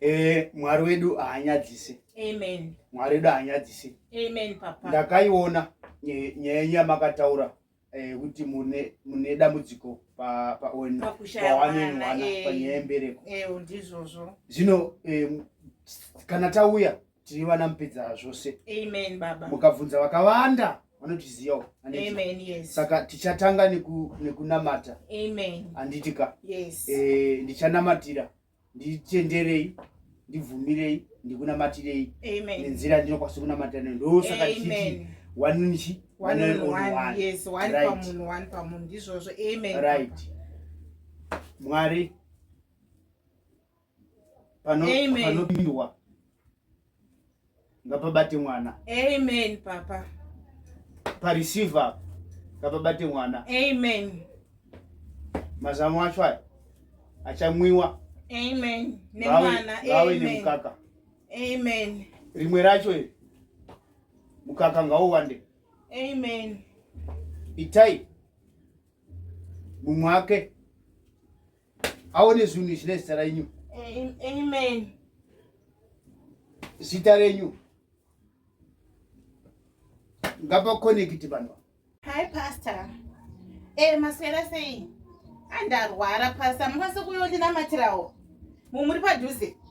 Eh, mwari wedu haanyadzise amen mwari wedu haanyadzise amen papa ndakaiona nye- nyaya yenyu yamakataura eh, kuti mune mune dambudziko pa- pa- on- Pakushaya pawane mwana, mwana eh. panyaya yembereko ewo ndizvozvo zvino eh, kana tauya tiri vana mupedza zvose amen baba mukabvunza vakawanda vanotiziyawo Aneti. amen yes saka tichatanga neku- nekunamata amen handiti ka yes Eh, ndichanamatira nditenderei ndibvumirei ndikunamatirei nenzira ndinokwanisa kunamatira nayo ndosaka tichiti wanunichi right mwari panopindwa ngapabate mwana amen papa pareceiver ngapabate mwana amen mazamu acho aya achamwiwa amen nemwana awe nemukaka amen rimwe racho iri mukaka ngauwande amen itai mumwe ake aone zvinhu izvi nezita renyu amen zita renyu ngapakonekiti vanhu hi pastor e eh, maswera sei andarwara pastor mukwanise kuyondinamatirawo mumuri padhuze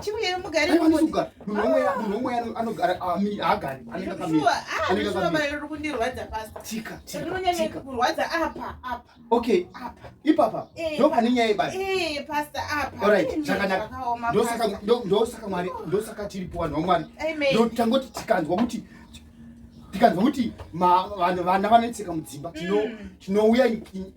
chiuye mugare munhu omwe anogara haagari anengauri kundirwadza pastarinonyanyakurwadza apa apa okay apa ipapa ndo pane nyaya yebasa pasta apa orit zvakanaka ndosaka mwari ndosaka tiripo vanhu vamwari ndotangoti tikanzwa kuti tikanzwa kuti vana vanoitseka mudzimba tinouya